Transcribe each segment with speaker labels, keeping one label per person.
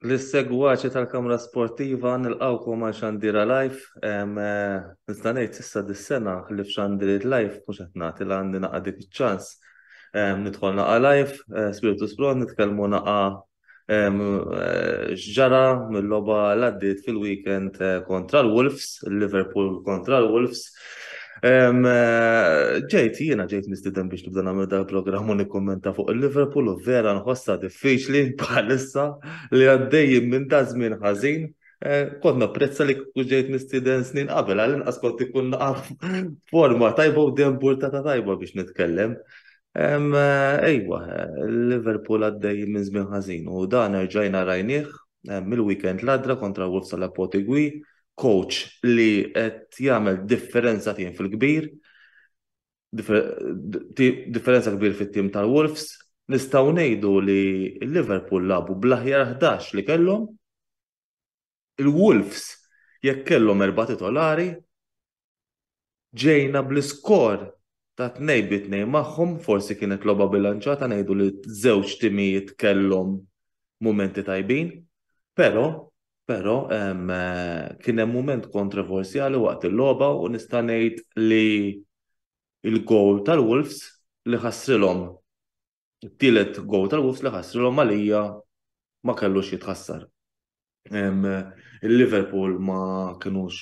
Speaker 1: L-segwaċi tal-Kamra Sportiva nilqawkom għal xandira live. Nista' ngħid issa dis-sena li f'xandiriet live mhux qed nagħti l għandi naqa' dik iċ-ċans. Nidħol naqa' live, spiritu spron, nitkellmu naqa' X'ġara mill-logħba l-għaddiet fil-weekend kontra l-Wolves, il-Liverpool kontra l-Wolves. Ġejt, jiena ġejt mistiden biex nibda nagħmel dal programm u nikkommenta fuq il-Liverpool u vera nħossha diffiċli bħalissa li għaddejjin minn ta' żmien ħażin. Eh, kont napprezza li kieku ġejt mistiden snin qabel, għal inqas kont ikun naqaf forma tajba u dembur ta' tajba biex nitkellem. Ejwa, Liverpool għaddej minn żmien ħażin u dan erġajna rajnieh mill-weekend l-għadra kontra Wolves tal Potigwi, coach li qed jagħmel differenza tim fil-kbir, differenza kbir fit-tim tal-Wolves, nistgħu ngħidu li Liverpool lagħbu bl-aħjar 11 li kellhom Il-Wolves, jekk kellhom erba' titolari, ġejna bl-iskor ta' tnejn bi tnejn magħhom, forsi kienet logħba bilanċata ngħidu li żewġ timijiet kellhom mumenti tajbin, però, però kien hemm mument kontroversjali waqt il-logħba u nista' ngħid li l-gowl tal-Wolves li ħassrilhom It-tielet gowl tal-Wolves li ħassrilhom għalija ma kellux jitħassar. Il-Liverpool ma kinux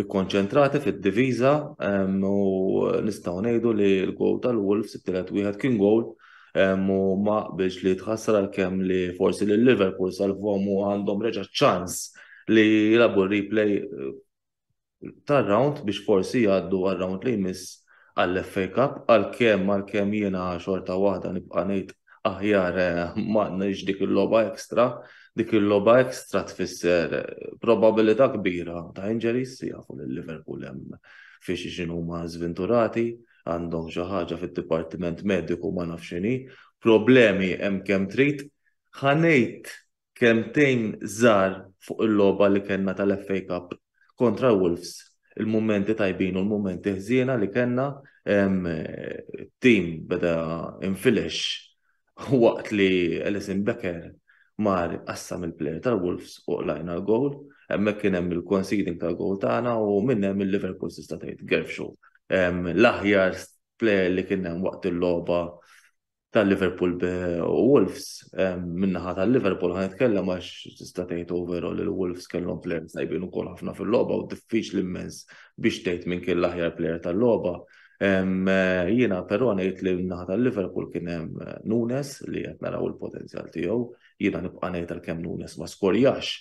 Speaker 1: ikkonċentrati fid-diviża u nistgħu ngħidu li l-gowl tal-Wolves it-tielet wieħed kien gowl u ma qbilx li jitħassar għalkemm li forsi li Liverpool salvom u għandhom reġa' ċans li jilabu replay tar-round biex forsi jgħaddu għar-round li jmiss għall-FA Cup għalkemm għalkemm jiena xorta waħda nibqa' ngħid aħjar ma għandniex dik il-logħba extra, dik il-logħba extra tfisser probabilità kbira ta' injuries jafu lil Liverpool hemm fi xi xi huma żvinturati għandhom xi ħaġa fid-dipartiment mediku ma nafx x'inhi, problemi hemm kemm trid, ħanejt Kelmtejn żgħar fuq il-logħba li kellna tal-FA Cup kontra Wolves, il-mumenti tajbin u l-mumenti ħżiena li kellna, it-tim beda infilex waqt li Alisson Becker mar qassam il-plejer tal-Wolves u qlajna l-gowl, hemmhekk kien hemm il-conceding tal-gowl tagħna u minn hemm il-Liverpool tista' tgħid Gerfxu l-aħjar plejer li kien hemm waqt il-logħba tal-Liverpool u Wolves, minnaħa tal-Liverpool ħan nitkellem għax tista' tgħid overall li l-Wolves kellhom plejer tajbin ukoll ħafna fil-logħba u diffiċli immens biex tgħid minn kien l-aħjar plejer tal-logħba. Jiena però ngħid li minnaħa tal-Liverpool kien hemm eh, Nunes li qed naraw il-potenzjal tiegħu, Jiena nibqa' ngħid għalkemm Nunes ma skorjax,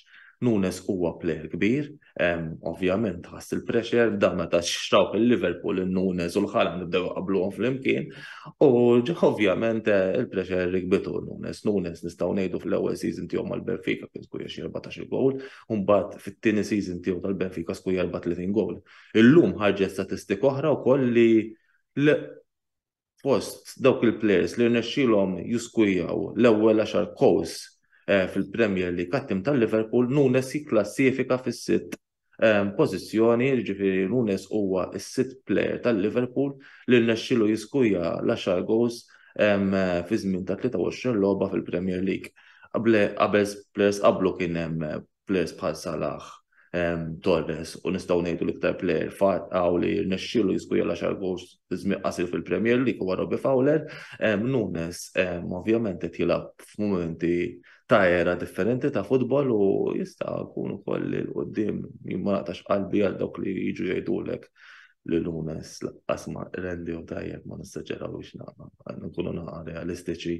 Speaker 1: Nunes huwa plejer kbir, ovvjament ħass il-pressure, dan meta xtrawh il-Liverpool in-Nunes u l-ħala nibdew qabluhom flimkien, u ovvjament eh, il-pressure rikbitu Nunes. Nunes nistgħu ngħidu fl-ewwel season tiegħu mal-Benfica kien skuja xi 14 gowl, u mbagħad fit-tieni season tiegħu tal-Benfica skuja 34 gowl. Illum ħarġet statistika oħra wkoll li fost dawk il-plejers li rnexxielhom jiskujjaw l-ewwel għaxar gowls fil-Premier League għat-tim tal-Liverpool, Nunes jikklassifika fis-sitt pożizzjoni, jiġifieri Nunes huwa s-sitt plejer tal-Liverpool li rnexxielu jiskujja l-għaxar gowls fi żmien ta' 23 logħba fil-Premier League. Qabel plejers qablu kien hemm players bħal Salah, Torres u nistgħu ngħidu l-iktar player għaw li rnexxielu jiskuja l-10 goals żmien qasir fil-Premier League huwa Robbie Fowler. Nunes ovvjament qed jilgħab f'mumenti ta' era differenti ta' futbol u jista' jkun ukoll il qudiem jimma naqtax qalbi għal dawk li jiġu jgħidulek li Lunes laqqas ma rendihom tajjeb ma nistaġerawiex naqra. Nkunu naqra realistiċi,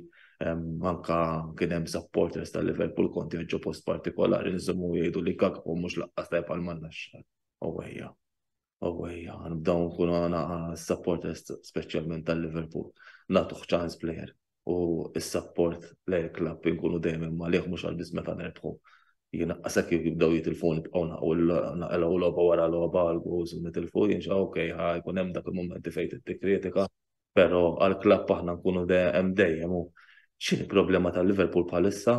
Speaker 1: anka kien hemm supporters ta' Liverpool konti ġo post partikolari nżommu jgħidu li kakku mhux laqqas tajjeb għal manna x-xar. Owejja. Owejja, nibdaw nkunu naqra supporters speċjalment tal-Liverpool. Nagħtuh ċans plejer. u s-sapport lejn il-klabb inkunu dejjem imma liħ mhux għal biss meta nerbħu. Jiena qasek kif jibdew jitilfu nibqgħu naqgħu logħba wara logħba għal goals u nitilfu jien xa okej ħa jkun hemm dak il-mumenti fejn titti kritika, però għall-klabb aħna nkunu hemm dejjem u x'inhi problema tal-Liverpool bħalissa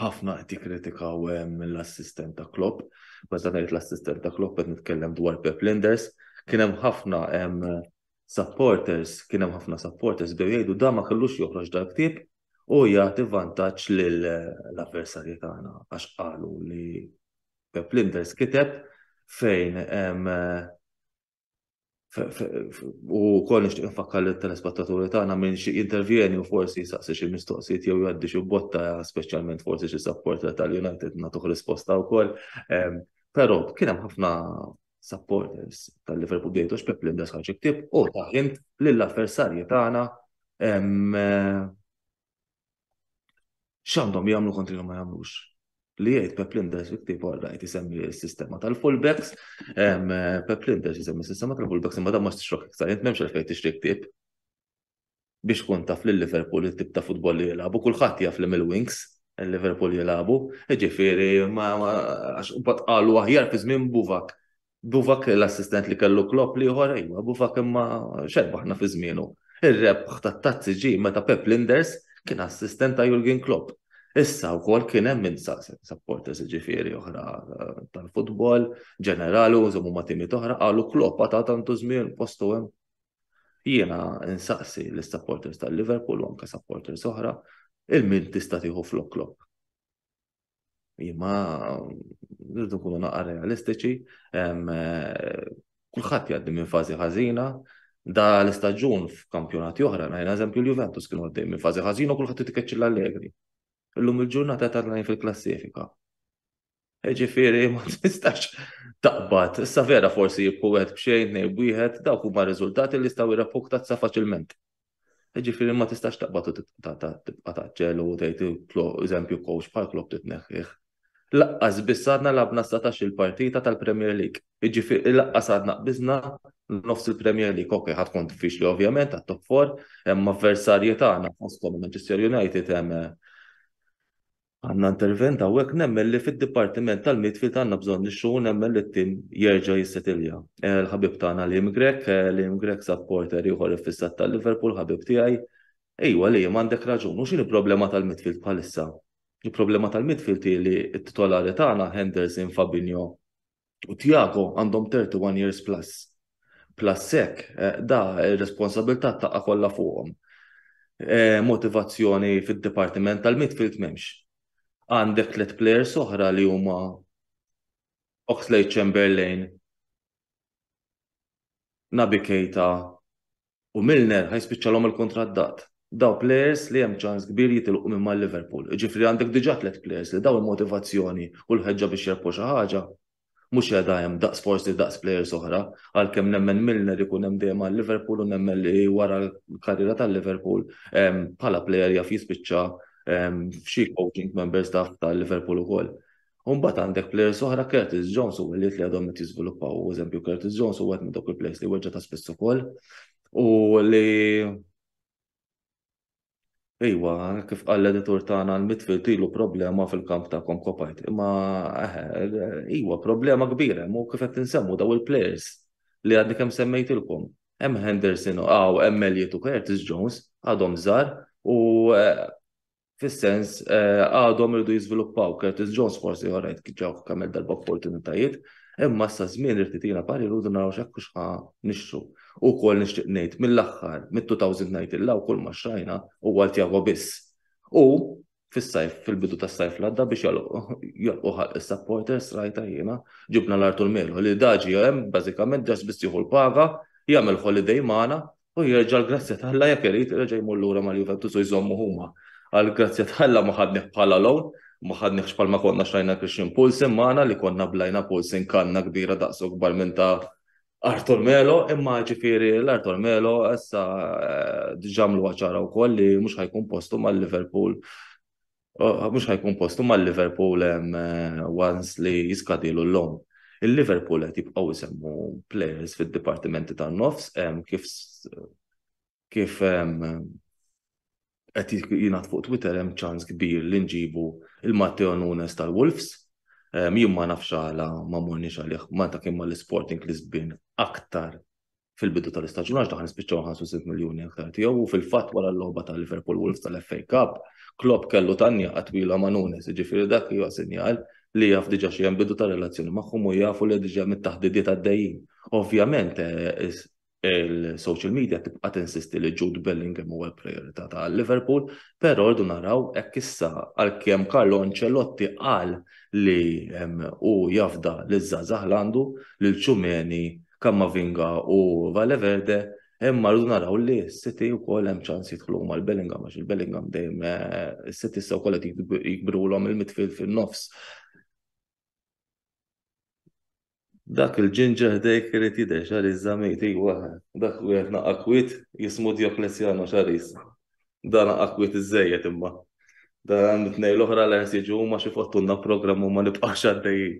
Speaker 1: ħafna qed jikkritikaw l-assistent ta' Klopp, meta ngħid l-assistent ta' Klopp qed nitkellem dwar Pep Linders, kien hemm ħafna supporters, kien hemm ħafna supporters bdew jgħidu da ma kellux joħroġ dal-ktieb u jagħti vantaġġ lill-avversarji tagħna għax qalu li Pep Linders kiteb fejn U kol nixtieq nfakkar li telespettaturi tagħna minn xi intervjeni u forsi saqsi xi mistoqsijiet jew jgħaddi xi botta speċjalment forsi xi supporter tal-United nagħtuh risposta wkoll. Ehm, però kien hemm ħafna supporters tal-Liverpool bdejtu x'pep li mdas ħarġ iktib u taħint lill-avversarji tagħna ehm, X'għandhom jagħmlu kontri ma jagħmlux? Li jgħid Pep Linders fi ktieb għarrajt isemmi s-sistema tal-fullbacks, Pep Linders isemmi s-sistema tal-fullbacks imma dan ma xtixrok iktar, jent memx għalfejn tixtri ktieb biex kun taf li Liverpool it-tip ta' futbol li jilagħbu, kulħadd jaf li mill-wings il-Liverpool jilagħbu, ġifieri ma għax qalu aħjar fi żmien Buvak Buvak l-assistent li kellu Klopp li ieħor ejwa, Buvak imma xerbaħna fi żmienu. Ir-rebħ tat-tazzi ġi meta Pep Linders kien assistent ta' Jurgen Klopp. Issa wkoll kien hemm minn supporters ġifieri oħra eh, tal-futbol, ġenerali u żommu ma' timi oħra qalu Klopp ta' tantu żmien postu hemm. Jiena insaqsi l-supporters tal-Liverpool u anke supporters oħra il-min tista' tieħu flok Klopp. Imma rridu nkunu naqra realistiċi, kulħadd jgħaddi minn fażi ħażina, da l-istaġun f'kampjonati oħra, najna eżempju l-Juventus kienu għaddej minn fażi ħażina u kulħadd titkeċċi l-Allegri. Illum il-ġurnata ta' fil-klassifika. Ġifieri ma tistax taqbad, issa vera forsi jibku wieħed b'xejn, nej wieħed, dawk huma riżultati li jistgħu jirrapportazza faċilment. Ġifieri ma tistax taqbad u tibqa' taġġel u tgħid eżempju coach bħal Klopp titneħħih. Laqqas biss għadna labna satax il-partita tal-Premier League. Ġifieri laqqas għadna qbiżna nofs il-Premier League. Ok, ħadd kont diffiċli ovvjament għat-top 4, hemm avversarji tagħna fosthom Manchester United hemm Għandna intervent hawnhekk nemmen li fid-dipartiment tal-midfield għandna bżonn nixtru u nemmen li t-tim jerġa' jissetilja. Il-ħabib tagħna Liam Grech, Liam Grech supporter ieħor iffissat ta' Liverpool, ħabib tiegħi. Ejwa Liam għandek raġun, u x'inhi problema tal-midfield bħalissa? Il-problema tal-midfield hi li t-titolari tagħna Henderson, Fabinho, u Tiago għandhom 31 years plus. Plus sek, eh, da responsabilità taqqa kollha fuqhom. Eh, motivazzjoni fid-dipartiment tal-midfield m'hemmx. Għandek tliet players oħra li huma Oxlade Chamberlain, Nabi Keita U Milner ħa jispiċċalhom il-kuntratt dat. Dawn plejers li hemm ċans kbir jitilqu minn mal-Liverpool. Jiġifieri għandek diġà tliet plejers li dawn il-motivazzjoni u l-ħeġġa biex jirbħu xi ħaġa mhux qiegħda hemm daqs forsi daqs plejers oħra, għalkemm nemmen Milner ikun hemm dejjem għal Liverpool u nemmen li wara l-karriera tal-Liverpool bħala plejer jaf jispiċċa f'xi coaching member staff tal-Liverpool ukoll. U mbagħad għandek players oħra Curtis Jones u Elliot li għadhom qed jiżviluppaw. U eżempju Curtis Jones u wieħed minn dawk il-players li weġġa' ta' spiss ukoll u li Iwa, kif qal l-editur tagħna l-midfield ilu problema fil-kamp ta' Konkopajt. Imma eħe, iwa problema kbira, mu kif qed insemmu daw il-players li għadni kemm semmejtilkom. Hemm Henderson u hemm Elliot u Curtis Jones għadhom żgħar u eh, fis-sens għadhom iridu jiżviluppaw. Curtis Jones forsi ħorajt ġew kemm darba opportunitajiet, imma sa żmien irid itina parir u naraw x'hekk hux ħa nixtru. U wkoll nixtieq ngħid mill-aħħar mit-2019 il-law kull ma xtrajna huwa għal Tiago biss. U fis-sajf, fil-bidu tas-sajf l-għadda biex jagħlqu ħalq is-supporters rajtha jiena, ġibna l-Artur Melo li da ġie hemm bażikament ġast biss jieħu l-paga, jagħmel holiday magħna u jerġa' l-grazzja ta' Alla jekk irid reġa' jmur lura mal-Juventus u jżommu huma. Għall-grazzja ta' Alla ma ħadnih bħala loan, ma ħadnihx bħalma konna xtrajna Christian Poulsen magħna li konna blajna Poulsen kanna kbira daqs u kbar minn ta' Arthur Melo, imma ġifieri l-Arthur Melo issa diġà għamluha ċara wkoll li mhux ħajkun postu mal-Liverpool mhux ħajkun postu mal-Liverpool once li jiskadilu l-lom. Il-Liverpool qed jibqgħu jsemmu players fid-dipartimenti tan-nofs kif kif qed jingħad fuq Twitter hemm ċans kbir li nġibu il-Matteo Nunes tal-Wolves. Jien ma nafx għala ma morniex għalih Malta kien mal-Sporting Lisbin aktar fil-bidu tal-istaġun għax daħal spiċċaw 65 miljuni aktar tiegħu u fil-fatt wara l-logħba ta' Liverpool Wolves tal-FA Cup, Klopp kellu tanja qatwila ma' Nunes, jiġifieri dak huwa sinjal li jaf diġà xi hemm bidu ta' relazzjoni magħhom u jafu li diġà mit-taħdidiet għaddejjin. Ovvjament eh, il-social media tibqa' tinsisti li Jude Bellingham huwa l-priorità ta' Liverpool, però rdu naraw hekk issa għalkemm Carlo Ancelotti qal li hu jafda li żgħażagħ għandu lil ċumeni Kammavinga u Valeverde, imma rridu naraw li s-City u kol hemm ċans jitħlu ma l-Bellingham, għax il-Bellingham dejjem eh, s-City sew kollha jikbrulhom il-midfield fin-nofs. Dak il-ġinġer ħdejk irid jidher xar iż-żamejt, iwa, dak u jgħet naqqa kwit jismu Dioklesjano xar iż. Dan akkwit iżżejjed imma. Dan it-tnejn l-oħra li qed jiġu huma xi fottunna programm u ma nibqgħux għaddejjin.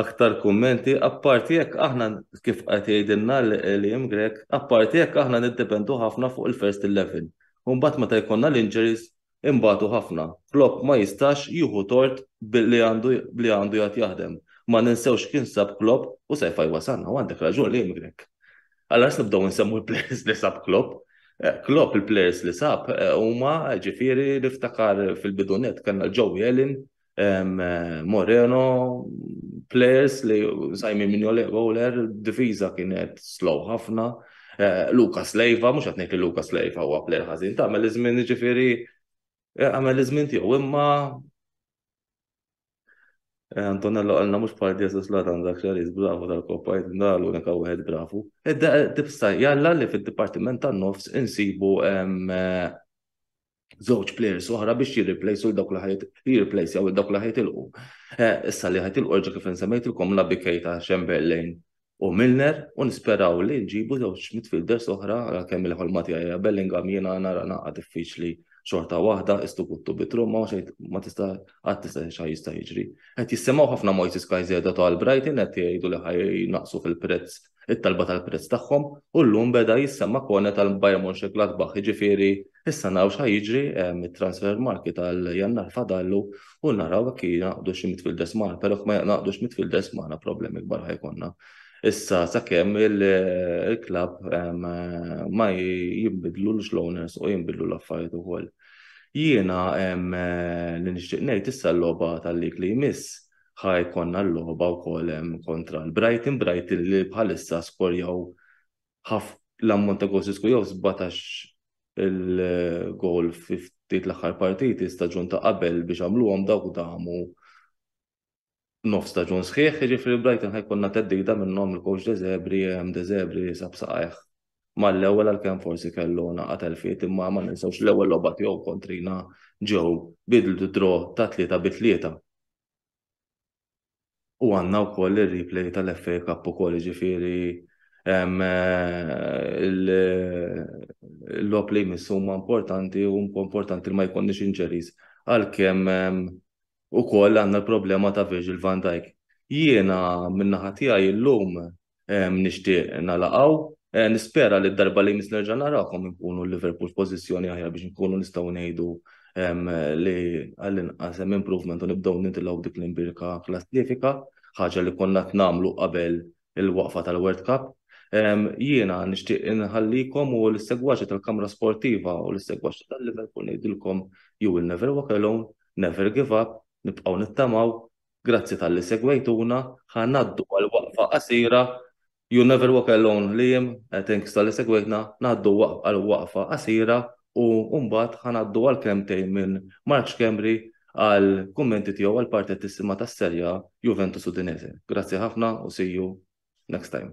Speaker 1: Aktar kummenti, apparti hekk aħna kif qed jgħidilna l-Liam Grech, apparti hekk aħna niddependu ħafna fuq il-first eleven. U mbagħad meta jkollna l-injuries inbatu ħafna. Klopp ma jistax jieħu tort billi għandu li għandu jgħad jaħdem. Ma ninsewx kien sab Klopp u sejf għaj wasalna u għandek raġun Liam Grech. Allura nibdew insemmu l-plejers li sab Klopp. Klopp il-plejers li sab huma ġifieri niftakar fil-bidu net kellna l-Joey Ellen, Moreno, plejers li sajmin minn Ole Goler, difiża kienet slow ħafna. Lucas Leiva, mhux qed ngħid li Lucas Leiva huwa plejer ħażin, tagħmel iż-żmien ġifieri għamel iż-żmien tiegħu imma Eh, Antonello għalna mux bħal Jesus Ladan dak xaris bravu tal-koppa jitna l-unika wieħed bravu. Edda eh, tipsa eh, jalla li fil-Dipartiment tan-Nofs insibu żewġ players oħra biex jirriplejsu l-dawk li ħajt jirriplejsu jew dawk li ħajt ilqu. Issa li ħajt ilqu ġa kif insemmejtilkom la bikej ta' Chamberlain u Milner u nisperaw li nġibu żewġ midfielders oħra għalkemm il-ħolma tiegħi hija Bellingham jiena nara naqgħa diffiċli xorta waħda istu kuttu bitru ma xejn ma tista' qatt tista' xi jista' jiġri. Qed jisimgħu ħafna Moises Caicedo ta' Brighton qed jgħidu li ħaj naqsu fil-prezz it-talba tal-prezz tagħhom u llum beda jissemma' Kone tal-Bayern Mönchengladbach jiġifieri issa naraw x'ħaj jiġri mit-transfer market għal Jannar fadallu u naraw jekk jingħaqdu xi midfielders magħna, però jekk ma jingħaqdux midfielders magħna problemi kbar ħajkonna. Issa sakemm il-klabb ma jinbidlu l-owners u jinbidlu l-affarijiet ukoll. Jiena li nixtieq ngħid issa l-logħba tal-lig li jmiss ħa jkollna l-logħba wkoll hemm kontra l-Brighton, Brighton li bħalissa skorjaw ħaf l-ammont ta' goals li skur jew 17 il-goal fi ftit l-aħħar partiti staġun ta' qabel biex għamluhom dawk damu nof staġun sħiħ, ġifri Brighton ħajkonna teddida minnhom il-coach Dezebri, hemm Dezebri sab saqajh. Mal-ewwel għalkemm forsi kellu naqat elfiet imma ma ninsewx l-ewwel logħba tiegħu kontrina ġew bidlu draw ta' tlieta bi tlieta. U għandna wkoll ir-replay tal-FA Cup ukoll jiġifieri l-logħob li jmiss huma importanti u importanti li ma jkollniex injuries għalkemm ukoll għandna l-problema ta' Virgil van Dijk. Jiena min-naħa tiegħi llum nixtieq nalaqgħu. Nispera li d-darba li jmiss nerġa' narakom inkunu l-Liverpool f'pożizzjoni aħjar biex inkunu nistgħu ngħidu li għall-inqas hemm improvement u nibdew nintilgħu b'dik l-imbirka klassifika, ħaġa li konna qed nagħmlu qabel il-waqfa tal-World Cup. Jiena nixtieq inħallikom u lis-segwaċi tal-Kamra Sportiva u lis-segwaċi tal-Liverpool ngħidilkom you will never walk alone, never give up, nibqgħu nittamaw Grazzi talli segwejtuna, ħa ngħaddu għal waqfa qasira You never walk alone Liam, thanks talli segwejtna, ngħaddu għal waqfa qasira u mbagħad ħa ngħaddu għal kelmtejn minn Mark Schembri għal kummenti tiegħu għal partettissima tas-Serie A Juventus Udinese. Grazzi ħafna u see you next time.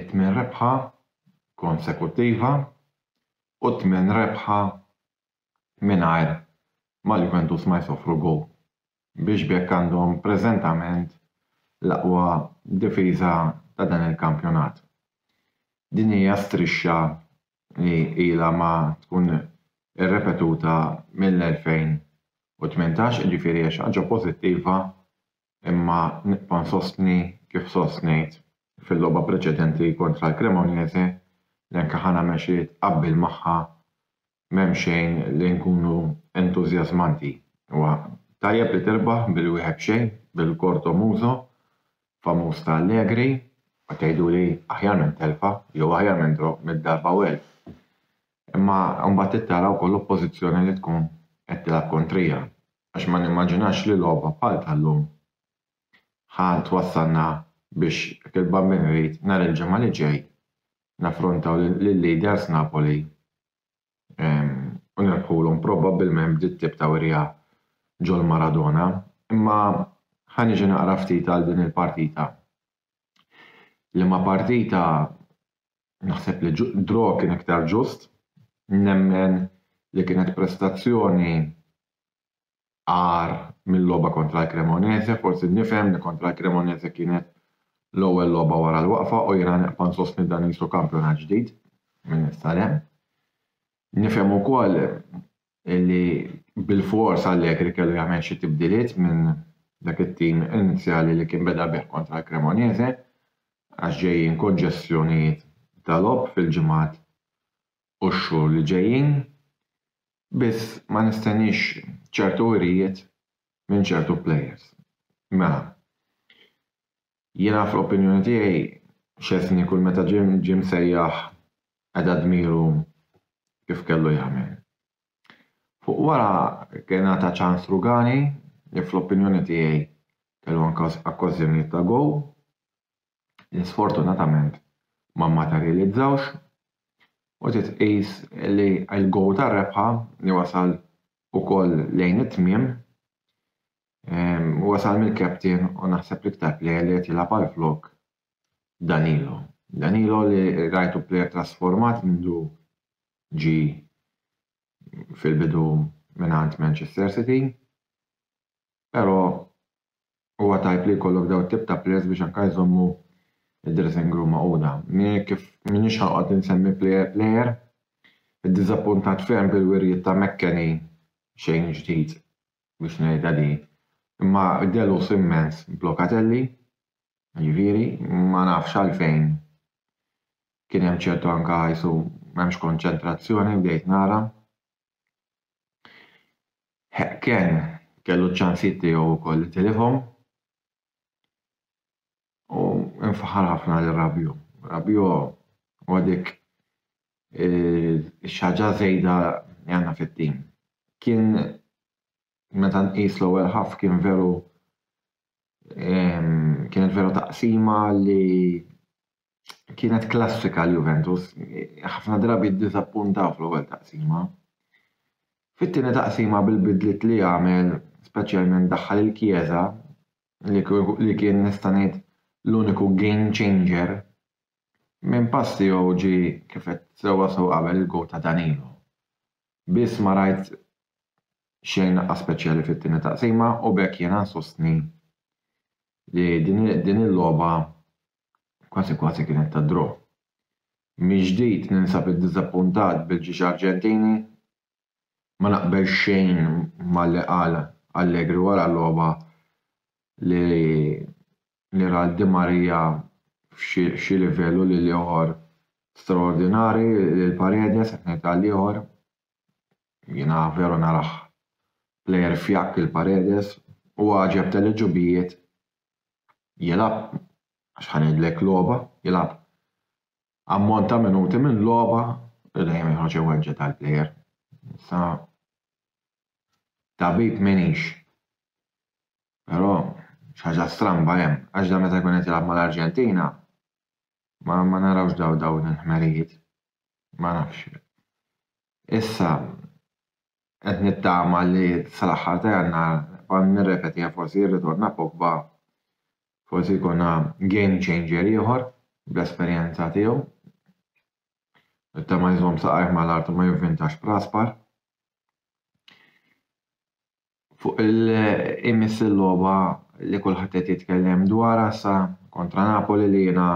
Speaker 1: it-tmien rebħa konsekuttiva u t-tmien rebħa mingħajr ma' Juventus ma jsofru goal biex b'hekk għandhom preżentament l-aqwa difiża ta' dan il-kampjonat. Din hija strixxa li ilha ma tkun irrepetuta mill-2018 jiġifieri hija xi ħaġa pożittiva imma nibqa' nsostni kif sostnejt fil-logħba preċedenti kontra l-Cremonese li anke ħa nagħmel xi tqabbil magħha m'hemm xejn li nkunu entużjażmanti. Huwa tajjeb li tirbaħ bil-wieħed b'xejn bil-Corto Muso famuż ta' Allegri u tgħiduli aħjar minn telfa jew aħjar minn draw mitt darba u elf. Imma mbagħad trid tara wkoll l-oppożizzjoni li tkun qed tilgħab kontrija. għax ma nimmaġinax li logħba bħal tal-lum ħa twassalna biex hekk il-Bambin Reid nhar il-Ġimgħa li ġej naffrontaw lil-leaders Napoli u nirbħulhom probabbilment b'dit tip ta' wirja ġol Maradona. Imma ħa niġi naqra ftit għal din il-partita. Liema partita naħseb li draw kien iktar ġust. Nemmen li kienet prestazzjoni agħar mill-logħba kontra l-Cremonese, forsi nifhem li kontra l-Cremonese kienet l-ewwel logħba wara l-waqfa u jiena neqpa' nsostni dan qisu kampjonat ġdid minn issa 'l hemm. Nifhem ukoll illi bilfors Allegri kellu jagħmel xi tibdiliet minn dak it-tim inizjali li kien beda bih kontra l-Cremonese għax ġejjin konġestjonijiet ta' logħob fil-ġimgħat u x-xhur li ġejjin, biss ma nistenniex ċertu wirijiet minn ċertu plejers. Mela, Jiena fl-opinjoni tiegħi Szczesny kull meta ġie ġie msejjaħ qeda dmiru kif kellu jagħmel. Fuq wara kien ngħata ċans Rugani li fl-opinjoni tiegħi kellu anke okkażjonijiet ta' gowl li sfortunatament ma mmaterjalizzawx u trid tqis li l-gowl tar-rebħa li wasal ukoll lejn it-tmiem Huwa sar mill-captain u naħseb l-iktar player li qed jilgħab għall-flok Danilo. Danilo li rajtu player trasformat mindu ġi fil-bidu mingħand Manchester City, però huwa tajb li jkollok daw tip ta' players biex anka jżommu id-dressing room maquda. Kif minix ħanqod insemmi player player, id-diżappuntat ferm bil-wirjiet ta' Mekkeni xejn ġdid biex ngħidha din, imma delus immens b'Locatelli, jiġifieri ma nafx għalfejn kien hemm ċertu anke ħajsu m'hemmx konċentrazzjoni bdejt nara. Ken kellu ċ-ċansijiet tiegħu wkoll li tilifhom. U nfaħħar ħafna lil Rabiot. Rabiot huwa dik ix-xaġa żejda li għandna fit-tim. Kien meta nqis l-ewwel ħaf kien veru kienet veru taqsima li kienet klassika għal Juventus. Ħafna drabi ddiżappuntaw fl-ewwel taqsima. Fit-tieni taqsima bil-bidliet li għamel, speċjalment daħħal il-Chiesa, li kien nista' ngħid l-uniku game changer, minn pass tiegħu ġie kif għedt sewwa sew qabel il-gowl ta' Danilo. Biss ma rajt xejn aqas speċjali fit-tieni taqsima u b'hekk jiena nsostni li din il-logħba kważi kważi kienet ta' draw. Mill-ġdid ninsab iddiżappuntat bil-ġiex Arġentini ma naqbel xejn ma li qal Allegri wara l-logħba li ra lil Di Maria f'xi livell u lil ieħor straordinarju lil Paredes qed ngħid għal ieħor jiena veru narah plejer fjakk lil Paredes u għaġeb tal-għeġubijiet jilgħab għax ħa ngħidlek logħba jilgħab ammont ta' minuti minn logħba li dejjem joħroġ iweġġa' tal-plejer. Sa tabib minix. Però xaġa stramba hemm, għax dan meta jkun qed jilgħab mal-Arġentina ma ma narawx daw dawn il-ħmerijiet. Ma nafx. Issa Qed nittama li sal-aħħar ta' Jannar nibqa' nirrepetiha forsi jirritorna Pogba forsi jkollna game changer ieħor bl-esperjenza tiegħu. Nittama jżomm saqajh mal-art u ma jivvintax b'raspar. Fuq il imiss il-logħba li kulħadd qed jitkellem dwarha sa kontra Napoli li jiena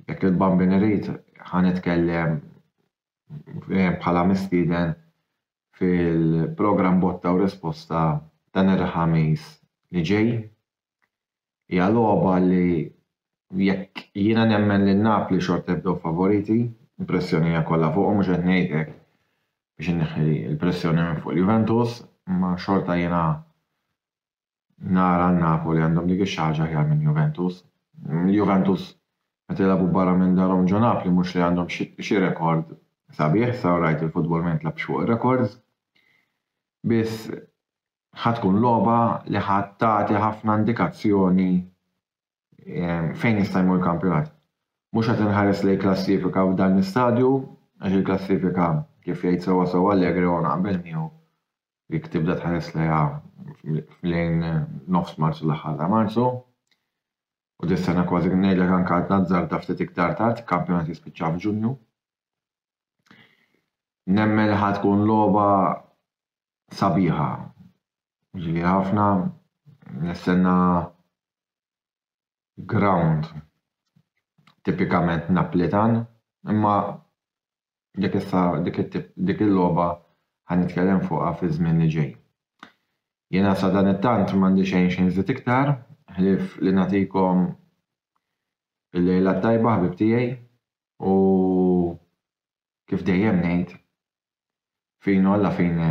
Speaker 1: Jekk il-Bambin irid, ħa nitkellem bħala mistieden fil-programm Botta u Risposta dan il-Ħamis li ġej. Hija logħba li jekk jiena nemmen lil Napli xorta jibdew favoriti, il-pressjoni hija kollha fuqhom, mhux qed ngħid hekk biex inneħħi l-pressjoni minn fuq il-Juventus, imma xorta jiena nara n-Napoli għandhom dik ix-xaħġa aħjar minn Juventus. Juventus meta jilagħbu barra minn darhom ġo Napli mhux li għandhom xi rekord sabiħ, sa rajt il-futbol ma jintlabx fuq ir-rekords. Biss ħa tkun logħba li ħa tagħti ħafna indikazzjoni ehm, fejn jista' jmur kampjonat. Mhux qed inħares lejn klassifika f'dan l-istadju, għax il-klassifika kif jgħid sewwa sewwa Allegri u naqbel miegħu Jekk tibda tħares lejha lejn nofs Marzu l-aħħar ta' Marzu, u tistenna kważi ngħidlek anke għal tazzarda ftit iktar tard, il-kampjonat jispiċċa f'Ġunju. Nemmen li ħa tkun logħba sabiħa. Ġieli ħafna nistenna ground tipikament Naplitan, imma Dik issa, dik it-tip, dik il-logħba ħa nitkellem fuqha fiż-żmien li ġej. Jiena sadanittant m'għandi xejn xi nżid iktar, ħlief li nagħtikom il-lejla t-tajba ħbieb tiegħi u kif dejjem ngħid, fine alla fine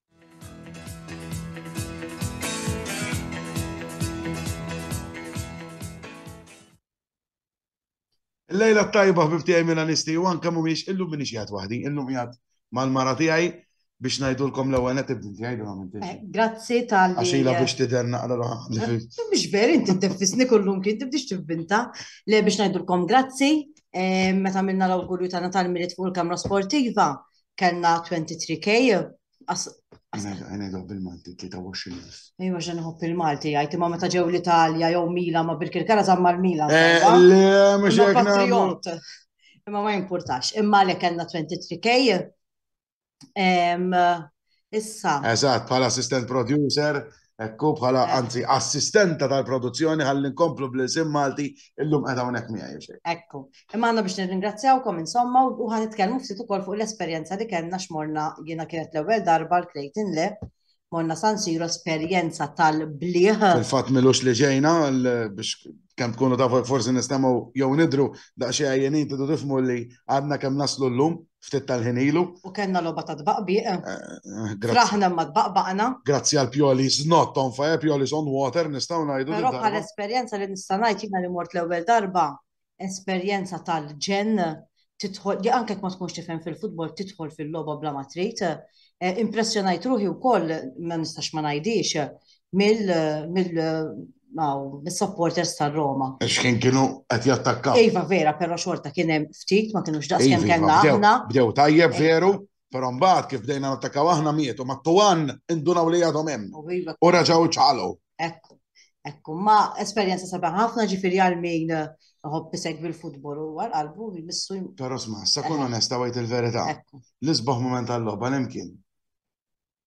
Speaker 1: Lejla tajba ħbib tiegħi Milanisti u anke mhumiex illum minix qiegħed waħdi, illum qiegħed mal-mara tiegħi biex ngħidulkom l-ewwel qed ibdin tiegħi dun għamilt. Eh, grazzi tal. Għaxila biex tidher naqra roħa. Mhux veri inti teffisni kullum kien tibdix tivvinta le biex ngħidulkom grazzi eh, meta minna l-awgurju ta' Natal Mirit fuq il-Kamra Sportiva. kellna 23K. Għanedhom bil-Malti 23,000. Ejwa ġen nħobb il-Malti għajti ma meta ġew l-Italja jew Mila ma Birkirkara zamma l-Mila. Eh, le, mux patriot. Imma ma jimpurtax. Imma li kellna 23K. issa. Eżatt, bħala assistant producer, ekku bħala eh. anzi assistenta tal-produzzjoni ħalli nkomplu bl-isim Malti illum qed hawnhekk miegħi xejn. Ekku. Imma għandna biex nirringrazzjawkom insomma u ħan nitkellmu ftit ukoll fuq l-esperjenza li kellna x'morna jiena kienet l-ewwel darba l-Clayton Le morna San Siro esperjenza tal-bliħ. Fil-fatt milux li ġejna biex kemm tkunu tafu jekk forsi nistgħu jew nidru daqsxejn għajjenin tidu tifmu li għadna kemm naslu llum ftit tal-ħin ilu. U kellna logħba ta' tbaqbiq. Eh, eh, grazzi. Aħna ma tbaqbaqna. Grazzi għal Pjoli not on fire, Pjoli on water, nistgħu ngħidu. Però bħal esperjenza li nista' ngħid jiena li mort l-ewwel darba esperjenza tal-ġen tidħol, li anke ma tkunx tifhem fil-futbol tidħol fil-logħba bla ma trid. Eh, impressjonajt ruħi wkoll ma nistax ma ngħidix mill mill mis-supporters tar-Roma. X'kien kienu qed jattakkaw. Iva vera, però xorta kien hemm ftit ma kienux daqs kemm iva, kellna aħna. Bdew tajjeb veru. Però mbagħad kif bdejna nattakaw aħna mietu ma' tuwan indunaw li għadhom hemm. U raġaw ċalu. Ekku, ekku, ma esperjenza sabiħ ħafna ġifieri għal min ħobb isegwi l-futbol u għal qalbu jmissu. Però sma, sa kun onesta għajt il-verità. L-isbaħ moment għall-logħba l-imkien.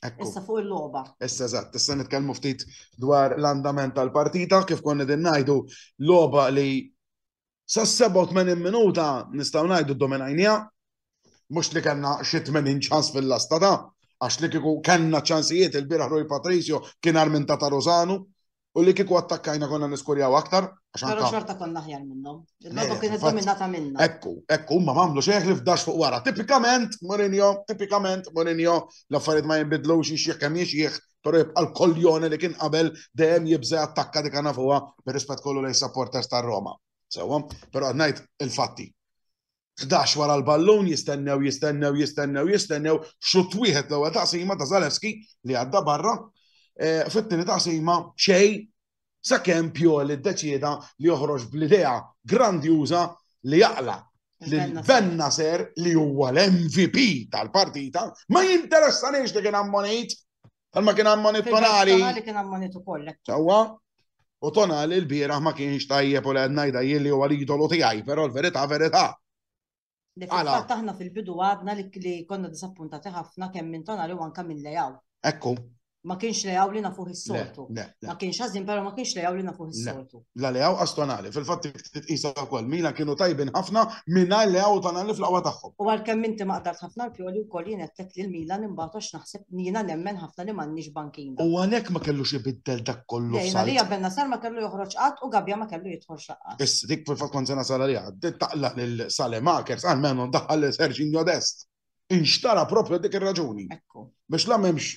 Speaker 1: Issa fuq il-logħba. Issa eżatt, issa nitkellmu ftit dwar l-andament tal-partita kif konna din ngħidu logħba li sa 87 minuta nistgħu ngħidu dominajnija. Mhux li kellna xi 80 ċans fil-lasta ta' għax li kieku kellna ċansijiet il-bieraħ Rui Patrizio kien armin ta' Tarozanu U li kiku attakkajna konna niskurjaw aktar, għax Pero anka. xorta konna ħjar minnhom. Il-logħba Eh, kienet infatti. dominata minna. Ekku, ekku, huma mamlu xejn li fdax fuq wara. Tipikament, Mourinho, tipikament, Mourinho, l-affarijiet ma jinbidlux jiex jekk hemm jiex jieħ, pero jibqa' l-koljone li kien qabel dejjem jibża' attakka dik nafuha bir-rispett kollu lejn supporters tar-Roma. Sewwa, pero qed ngħid il-fatti. Ħdax wara l-ballun jistennew, jistennew, jistennew, jistennew, xutt wieħed l-ewwel taqsima ta' Zalewski li għadda barra, eh, fit-tieni taqsima xej sakemm Pioli ddeċieda li joħroġ bl-idea grandjuża li jaqla' l-benna ser li huwa l-MVP tal-partita ma jinteressanix li kien ammonejt Għalma kien ammonit tonali. Tonali kien ammonit u kollek. Sawa, u tonali l-biraħ ma kienx tajjeb u l-għedna jda jilli u għal-idolu tijaj, pero l-verita verita. Li fil-fat taħna fil-bidu għadna li konna disappuntati ħafna kemm minn tonali u anka minn lejaw. Ekku. Ma kienx lejaw li nafuħ is-soltu. Ma kienx ħażin, pero ma kienx lejaw li nafuħ is-soltu. La Leao as Tonali. Fil-fatt titqisa wkoll Milan kienu tajbin ħafna mingħajr Leao u Tonali fl-aqwa tagħhom. U għalkemm inti ma qdart ħafna l-Pioli wkoll jien għedtlek li l-Milan imbagħad għax naħseb jiena nemmen ħafna li m'għandniex bankina. U għalhekk ma kellux ibiddel dak kollu Sarr. Le, jien għalija Bennacer ma kellu joħroġ qatt u Gabbia ma kellu jidħolx laqqas. Issa dik fil-fatt kont se nasal għaliha. Taqlaq lil Salemakers għalmenu daħħal lil Serginho Dest. Inxtara proprju għal dik ir-raġuni. Ekku. Biex la m'hemmx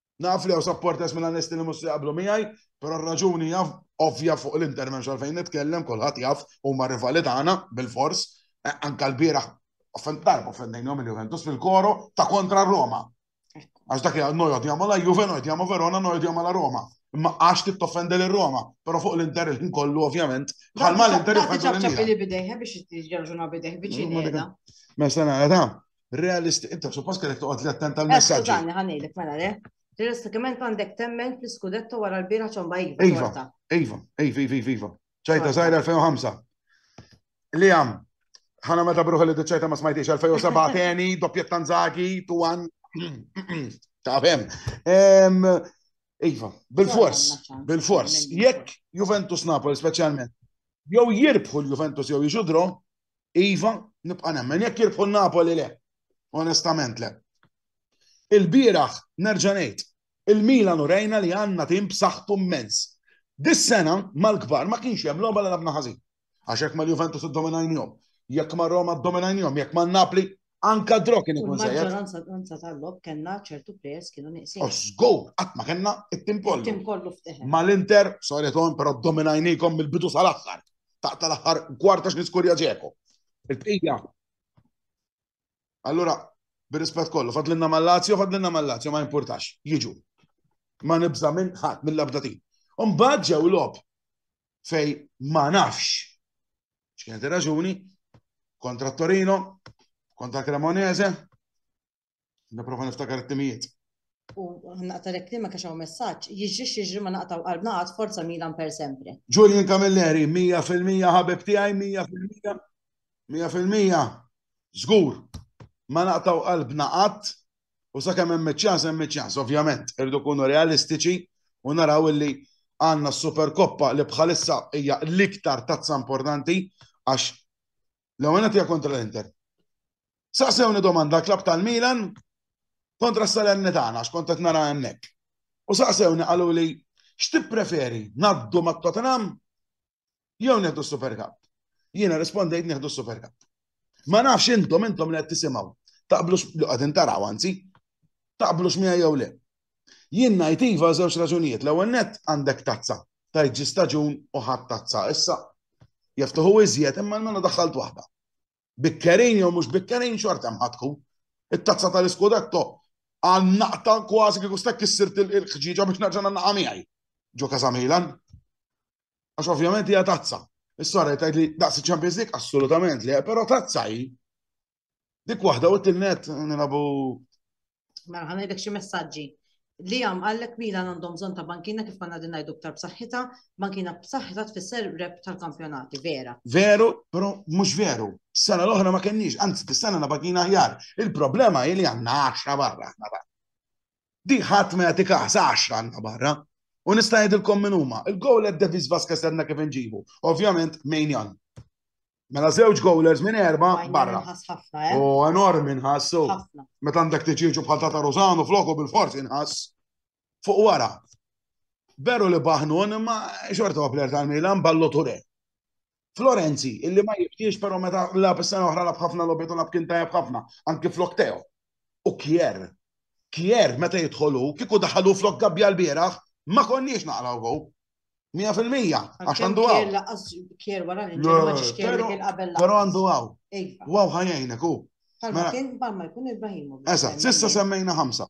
Speaker 1: Naf li hawn supporters minn Anesti li mhux se jaqblu miegħi, però r-raġuni hija ovvja fuq l-inter m'hemmx għalfejn nitkellem, kulħadd jaf huma rivali tagħna bilfors. Eh, anka l-bieraħ offend darba offendejnhom il-Juventus fil-koro ta' kontra Roma. Għax dak jgħal nojod jgħamu la Juve, nojod jgħamu Verona, nojod jgħamu la Roma. Imma għax tittoffendi l Roma, pero fuq l-inter il-ħin kollu ovvjament. Bħal ma l-inter il-ħin kollu. Ċabċabili bidejħe biex jġarġuna bidejħ biċini. Mesta nara ta' Realistik, inta suppost kellek toqgħod li attent għal messaġġi. Skużani, ħanejlek mela le. Realistikament għandek temmen fl-iskudetto wara l-bira ċomba iva. Iva, iva, iva, iva, iva. ċajta zaħira 2005. Li għam, ħana meta bruħu li d-ċajta ma smajtix 2007 teni, doppjet tanzaki, tu għan. Ta' fem. Iva, bil-fors, bil-fors. Jekk Juventus Napoli specialment, jew jirbħu l-Juventus jew jġudro, Iva, nibqa' nemmen jekk jirbħu Napoli le. Onestament le. Il-bieraħ nerġa' ngħid, il-Milan urejna li għandna tim b'saħħtu mmens. Dis-sena mal-kbar ma kienx hemm logħba li labna ħażin. Għax jekk mal-Juventus iddominajnihom, jekk mar-Roma ddominajnihom, jekk man-Napli Anka drok kien ikun żejjed. Maġġoranza tal-lob kellna ċertu players kienu nieqsin. U żgur, qatt ma kellna it-tim kollu. Tim kollu fteħen. Mal-Inter, sorry tom, però dominajnikom mill-bidu sal-aħħar. Taq tal-aħħar kwarta x'niskurja ġeku. Il-bqija. Allura, bir-rispett kollu, fadlinna mal-Lazio, fadlinna mal-Lazio, ma importax, jiġu. Ma nibża minn ħadd mill-abdatin. Umbagħad ġew lob fej ma nafx X'kienet ir-raġuni? Kontra Torino, kontra Cremonese, niprofa niftakar it-timijiet. U naqta lek li ma kaxaw messaġġ, jiġri jiġri ma naqtaw qalbna għad forza Milan per sempre. Julian Camilleri, 100% ħabib tiegħi, 100%, 100%, żgur, ma naqtaw qalbna qatt, U sakemm hemm iċ-ċans, hemm iċ-ċans. Ovvjament, irridu nkunu realistiċi u naraw illi għandna s-Superkoppa li bħalissa hija l-iktar tazza importanti għax l-ewwel hija kontra l-Inter. Saqsewni domanda klab tal-Milan kontra s-Salernitana għax kont qed nara hemmhekk. U saqsewni qalu li x'tippreferi ngħaddu mat-Tottenham jew neħdu s-Super Cup. Jiena rispondejt neħdu s-Super Cup. Ma nafx intom intom li qed tisimgħu. Taqblux li qegħdin taraw anzi. Taqblux miha jew le. Jien ngħid iva żewġ raġunijiet. L-ewwel nett għandek tazza. Tajt ġi staġun u ħadd tazza. Issa jaftuħu iżjed imma l-mela daħħalt waħda. Bikkerin jew mhux bikkerin xorta mħatku. It-tazza tal-iskudetto għal naqta kważi kieku stek issirt il-ħġiġa biex nerġa' naqa' miegħi. Ġo Kazamilan. Għax ovvjament hija tazza. Is-sora jtajt li daqs il-Champions League assolutament li, però tazza hi. Dik waħda u t-tilnet nilabu. Mela ħana jdek xi messaġġi. Li għam għallek mila għandhom bżon ta' bankina kif konna din ngħidu ktar b'saħħitha, bankina b'saħħitha tfisser rep tal-kampjonati, vera. Veru, però mhux veru. Sena l-oħra ma kenniex, anzi t-sena na bankina ħjar. Il-problema hi li għandna 10 barra ħna Di ħadd ma jagħti każ, għaxra għandna barra. U nista' ngħidilkom min huma. Il-gowl qed Davis Vasquez għandna kif inġibu. Ovvjament Mainjan. Mela żewġ goalers minn erba barra. Eh? U enormi nħassu. Meta għandek tiġiġu bħal ta' Rosano floku bil-forsi nħass. Fuq wara. Veru li baħnun imma xorta għapler tal-Milan ballo ture. Florenzi, illi ma jibtiex pero meta lab is-sena oħra lab ħafna lobet u lab kien tajjeb ħafna, anki flok Teo. U Kier. Kier meta jidħolu, kieku daħalu flok gabbja l-bieraħ, ma konniex naqraw go. Mija fil-mija, għax għandu għaw. Kier laqqas kier wara li ġemma ċiċkier li kien qabel. Pero għandu għaw. Għaw ħajajnek u. Palma mela- kien palma jkun Ibrahimovic. Eżat, sissa semmejna ħamsa.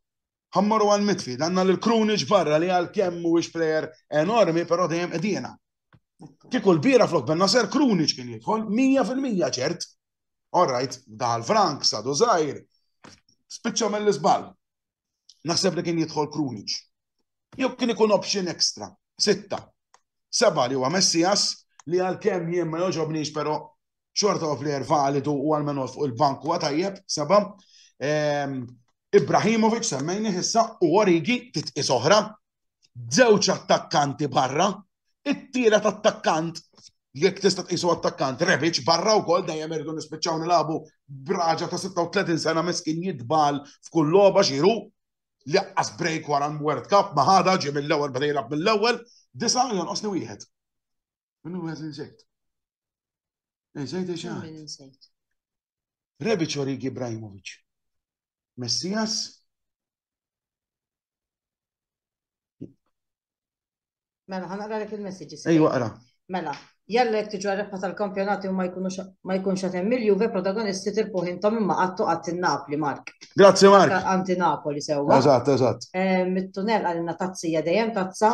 Speaker 1: Ħa mmorru għal midfield, għandna lil Krunic barra li għalkemm mhuwiex plejer enormi, però dejjem qegħdina. Kieku l-bira flok benna ser Krunic kien jidħol 100% ċert. All right, daħal Frank, sadu Zajr, spiċċa mill-iżbal. Naħseb li kien jidħol Krunic. Jew kien ikun option extra, sitta. Seba li huwa Messias li għalkemm jien ma joġobniex però xorta huwa plejer validu u għalmen fuq il-bank huwa tajjeb, seba. Ehm, Ibrahimovic semmejni issa u Origi titqis oħra, żewġ attakkanti barra, it-tielet attakkant jekk tista' tqisu attakkant Rebic barra wkoll dejjem irdu nispiċċaw nilagħbu braġa ta' 36 sena miskin jitbal f'kull logħba xiru li qas break wara World Cup ma ħada ġie mill-ewwel beda jilgħab mill-ewwel disa' jonqosni wieħed. Min hu għażin żejt? Ej, żejt eċa. Rebic Origi Ibrahimovic. Messias. Mela, ħana għarek il-messagġi. Ej, waqra. Mela, jalla jek tiġu għarrefqa tal-kampjonati u ma jkunx għatem milju, ve protagonisti tirpuħ intom imma għattu għatti Napli, Mark. Grazie, Mark. Għanti Napoli, sewa. Eżat, eżat. Eh, mit-tunel għalina tazzija dejjem tazza.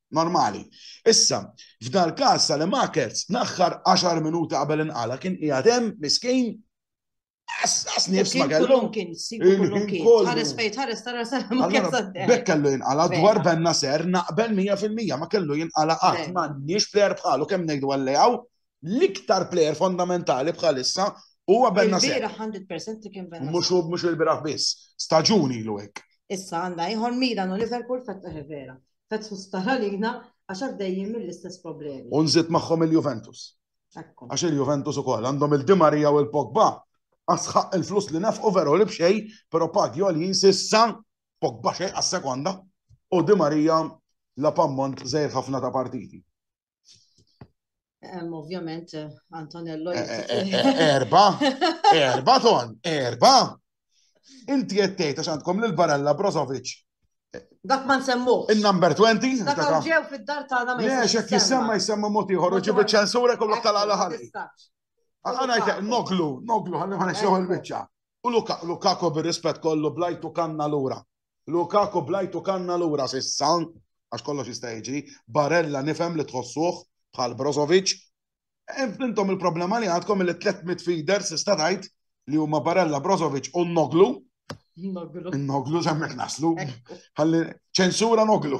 Speaker 1: Normali. Issa, f'dal każ Salemakerz naħħar 10 minuti qabel inqala kien qiegħed hemm miskin Għas nifs ma kellu. Kien kullu kien. Ħares fejt, ħares tara ma kellu. Bek kellu jinqala dwar benna ser naqbel 100% ma kellu jinqala qatt ma nix plejer bħalu kemm ngħidu għallejaw l-iktar plejer fondamentali bħalissa huwa benna ser. Il-biraħ 100% li kien benna. Mhux mhux il-biraħ biss. Staġuni l-wek. Issa għandna ieħor Milan u Liverpool fattaħ vera. Qed tkun sptar għalina għax għaddejjin mill-istess problemi. U nżid magħhom il-Juventus. Għax il-Juventus ukoll għandhom il-Di Maria u l-Pogba. Asħaq il-flus li nefqu veru li b'xej, però pagi għoljin sissa Pogba xej għas-sekonda u Di Maria la pammont żejr ħafna ta' partiti. Ovvjament, Antonello. Eh, eh, eh, erba, erba ton, erba. Inti jettejt għax għandkom l-barella Brozovic. Dak ma nsemmu. Il-number 20. Dak ġew fid-dar ta' għana ma jisemma. Lex, jek jisemma jisemma moti ħor, ġibu ċensura kollu tal-għala ħalli. Għana jtek, noglu, noglu, għalli ma nxeħu l-bicċa. U Lukaku bil-rispet kollu blajtu kanna l-ura. Lukaku bl-għajtu kanna lura s'issa, għax kollox jista' jiġri, Barella nifhem li tħossuh bħal Brozovic. Intom il-problema li għandkom li tliet midfielders tista' tgħid li huma Barella, Brozovic u Noglu. Noglu. Noglu żemmek naslu. Ħalli ċensura Noglu.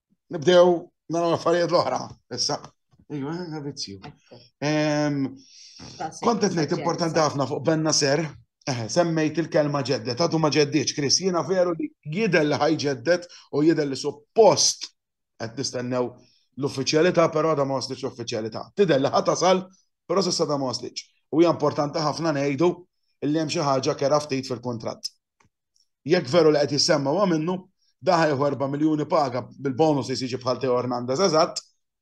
Speaker 1: nibdew naraw affarijiet l-oħra. Issa, ejwa, vizzju. Kontet ngħid importanti ħafna fuq Benna Ser, eh, semmejt il-kelma ġeddet, għadu ma ġeddiċ, Kris, jiena veru li jidel li ħaj ġeddet u jidel li suppost qed nistennew l-uffiċjalità, però da ma waslitx l-uffiċjalità. Tidel li ħa tasal, però s'issa da ma waslitx. U hija importanti ħafna ngħidu illi hemm xi ħaġa kera ftit fil-kuntratt. Jekk veru li qed jissemma huwa minnu, dan ħajħu erba' miljuni paga bil-bonus li se jiġi bħal Theo Hernandez eżatt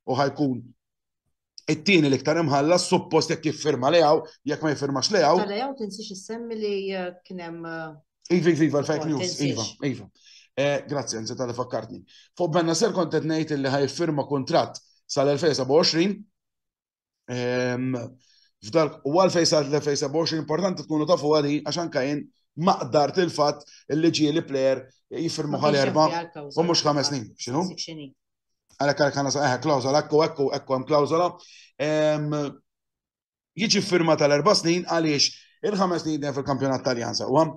Speaker 1: u ħajkun it-tieni l-iktar imħallas suppost jekk jiffirma Leao, jekk ma jiffirmax Leao. Ta' Leao tinsiex issemmi li eh, kien hemm eh, Iva, iva, iva, l-fake news, iva, iva. Eh, grazzi, għanzi tal fakkartni. Fuq benna ser kontet nejt li ħaj firma kontrat sal-2027 F'dak u għalfej sa' 2027 importanti tkunu tafu għali għax anka jien maqdar til-fat li ġie li plejer jifirmu għal erba u mux ħames snin. Xinu? Għalek għalek għana saħħa klawzola, ekku ekku ekku għam klawzola. Jiġi firma tal-erba snin għaliex il-ħames snin fil-kampjonat taljan saqwa.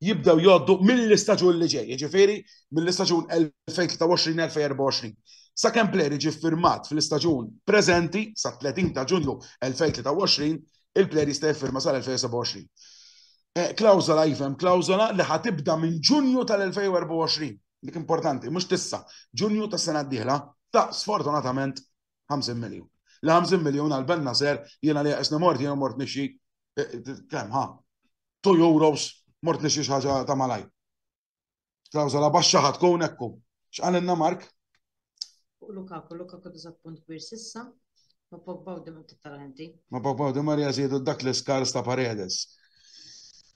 Speaker 1: jibdew jgħoddu mill-istaġun li ġej, jiġifieri mill-istaġun 2023-2024. Sakemm plejer jiġi ffirmat fl-istaġun preżenti sa 30 ta' Ġunju 2023, il-plejer jista' jiffirma sal-2027. Klawżola iva hemm klawżola li ħa tibda minn Ġunju tal-2024. Dik importanti, mhux tissa, Ġunju tas-sena d-dieħla. Ta' sfortunatament 50 miljun. Li 50 miljun għal Ben Nasser jiena li jaqisni mort jiena mort nixxi kemm ha 2 euros mort nixxi xi ħaġa ta' malaj. Klawsola baxxa ħad tkun ekku. X'qalilna Mark? Fuq Lukaku, Lukaku diżat punt kbir sissa, ma Pogba u Di Maria tittalenti. Ma Pogba u Di Maria żiedu dak l-iskars ta' Paredes.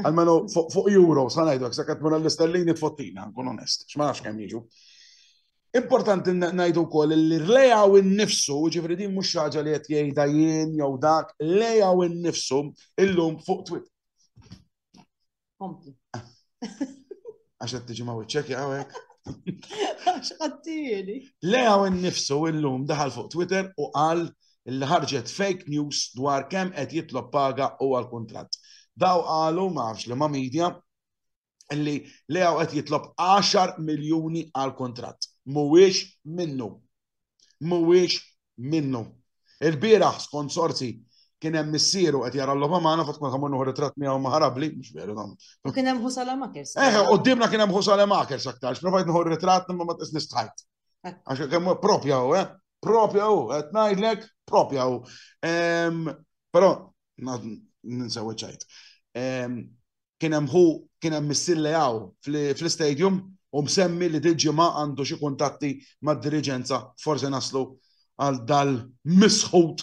Speaker 1: Almenu fuq euro, sa ngħidlek, sa qed mura l-istellini tfottina, nkun onest, x'ma nafx kemm jiġu. Importanti ngħidu wkoll li lejaw innifsu, ġifri din mhux ħaġa li qed jgħidha jien jew dak, lejaw innifsu illum fuq twit. Kompli. Għax qed tiġi ma wiċċek jaqgħek. Għax qattili. Lejaw innifsu illum daħal fuq Twitter u qal li ħarġet fake news dwar kemm qed jitlob paga u għal kuntratt. Daw qalu ma nafx li ma media li Leao qed jitlob 10 miljuni għal kuntratt. Mhuwiex minnu. Mhuwiex minnu. Il-bieraħ skont sorsi kien hemm missieru qed jara l-logħba magħna fatt ma ħamur noħor ritratt miegħu maħarabli, mhux veru dam. U kien hemm Ħusala Makers. Eh, qudiemna kien hemm Ħusala Makers aktarx, provajt noħor ritratt imma ma tqis nistħajt. Għax kemm propja u, eh? Propja u, qed ngħidlek propja u. Però ninsew ċajt. Kien hemm hu kien hemm missille hawn fl-istadium u msemmi li dil-ġimgħa għandu xi kuntatti mad-diriġenza forse naslu għal dal-misħut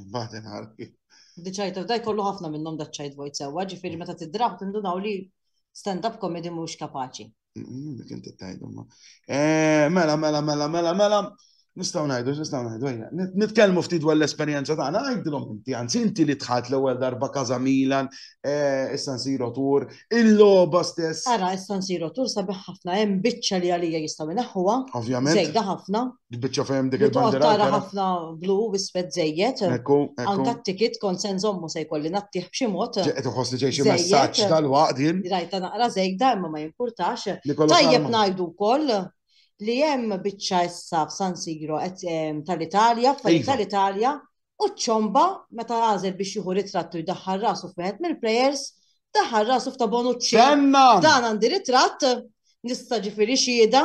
Speaker 1: Imbagħad inħar kif. Diċajt, daj kollu ħafna minnhom daċċajt vojt sewwa, ġifieri meta tidrab tindunaw li stand-up comedy mhux kapaċi. Kien tittajdu ma. Eh, mela, mela, mela, mela, mela. Nistaw najdu, nistaw najdu, ejja. Nitkelmu ftit dwar l-esperienza tagħna, għajdilhom inti, anzi inti li tħat l-ewwel darba Kaza Milan, eh, issa nsiru tur, il-logħba stess. Ara, issa nsiru tur sabiħ ħafna hemm biċċa li għalija jistgħu naħħuha. Ovvjament. Żejda ħafna. Tbiċċa fehem dik il-bandira. Tara ħafna blu wiswed żejjed. Ekku, ekku. Anka t-tikit kont se nżommu se jkolli nattih b'xi mod. Qed iħossni ġej xi messaġġ tal-waqt jien. Rajta naqra żejda imma ma jimpurtax. Tajjeb ngħidu wkoll li hemm biċċa issa f'San Siro tal-Italja, f'fajn tal-Italja, u ċomba meta għażel biex jieħu ritrattu jdaħħal rasu f'wieħed mill-plejers, daħħal rasu f'ta' Bonucci. Dan għandi ritratt, nista' ġifieri xieda.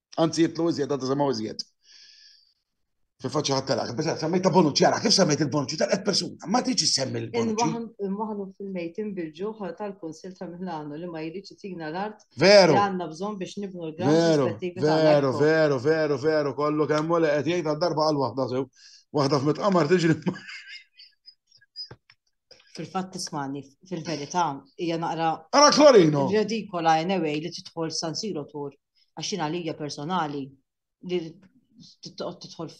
Speaker 1: Anzi jitlu iżjed, għadda semaw iżjed. Fil-faċċa ħadd talak, biex semmejta Bonucci, għara kif semmejt il-Bonucci tal-qed persuna, ma tiġi semmi l-Bonucci. Imwaħnu fil-mejt imbilġu ħal tal-Konsil ta' Milano li ma jridx itina l-art. Veru. Għanna bżon biex nibnu l-gran. Veru, veru, veru, veru, veru, kollu kemm u li qed jgħid darba għal waħda sew. Waħda f'met qamar tiġri. Fil-fatt tismani, fil-verità, hija naqra. Ara Klorino! Redikola anyway li tidħol San Siro tur, għax jien għalija personali li tidħol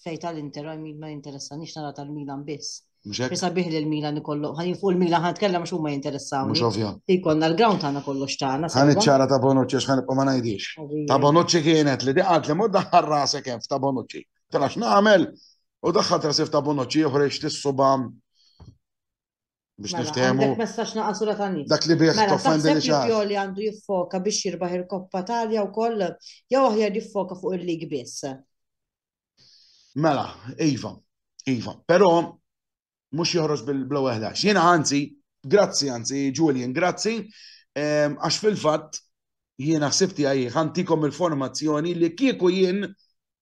Speaker 1: fej tal-Inter, ma jinteressa nix nara tal-Milan biss. Bisa biħ li l-Milan ikollu, għan jinfu l-Milan għan tkellem xumma jinteressaw. Mux ovvja. Ikonna l-ground għana kollu xtana. Għan iċċara ta' Bonucci, xħan ma najdix. Ta' Bonucci kienet li diqat li mudda ħarrasek hemm ta' Bonucci. Tela x'nagħmel? U daħħal trasif ta' bonoċi uħra jixti s-suba biex mela, niftehmu. Għandek messaċ naqasura ta' nis. Dak li bieħ mela, toffendi li xaħ. Joli għandu jiffoka biex jirbaħ il-koppa talja u koll, jew aħjar jiffoka fuq il-lig biss. Mela, Iva, Iva, pero mux joħroġ bil-blow eħlax. Jena għanzi, grazzi għanzi, Julian, grazzi, ehm, għax fil-fat jena sibti għaj, għantikom il-formazzjoni li kieku jien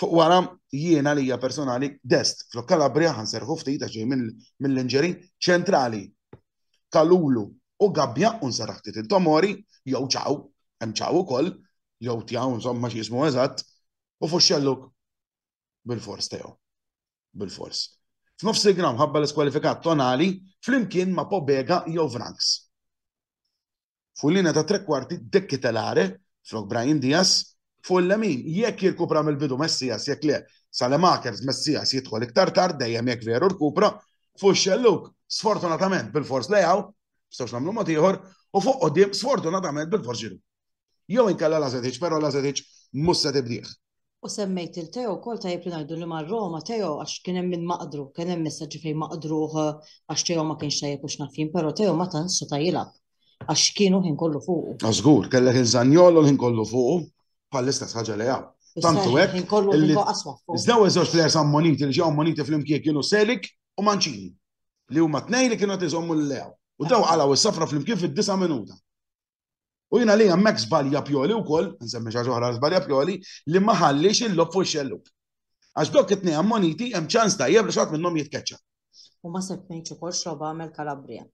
Speaker 1: Fuq wara jiena lija personali dest flok Kalabria ħan serħu ftit għax mill-inġeri ċentrali. Kalulu u gabbja u nsarraħ ftit il-tomori jew ċaw, hemm ċaw ukoll, jew tjaw insomma xi jismu eżatt, u fuq xelluk bil-fors tew. Bil-fors. F'nofs il-gram ħabba l-iskwalifikat tonali flimkien ma' pobega jew vranks. fuq il-linja tat-trekwarti De Ketelaere flok Brahim Diaz, fuq il-lemin jekk jirkupra mill-bidu Messias jekk le Saelemaekers, Messias jidħol iktar tard dejjem jekk veru rkupra, fuq ix-xellug sfortunatament bilfors Leao, ma nistgħux nagħmlu mod ieħor, u fuq quddiem sfortunatament bilfors Giroud. Jew inkella Lazetic, però Lazetic mhux se tibdih. U semmejt il-Teo kol tajjeb li ngħidu li mar Roma Teo għax kien hemm min maqdru, kien hemm messaġġi fejn maqdruh għax Teo ma kienx tajjeb u x'nafin, però Teo ma tantx seta' jilgħab għax kienu ħin kollu fuqu. Żgur, kellek il-Zanjolo ħin kollu fuqu bħall-istess ħaġa li hawn. Tantu hekk. Ħin kollu ħin aswa fuq. Iżda u żewġ plejers ammoniti li ġew ammoniti flimkien kienu Selik u Mancini li huma tnejn li kienu qed iżommu l-lew. U daw qalgħu s-safra flimkien fid-disa' minuta. U jiena li hemmhekk żbalja Pioli wkoll, nsemmi xi ħaġa oħra żbalja Pioli, li ma ħallix il-lob fuq xelluk. Għax dok it-tnejn ammoniti hemm ċans tajjeb li xatt minnhom jitkeċċa. U ma semmejtx ukoll xogħba għamel Kalabria.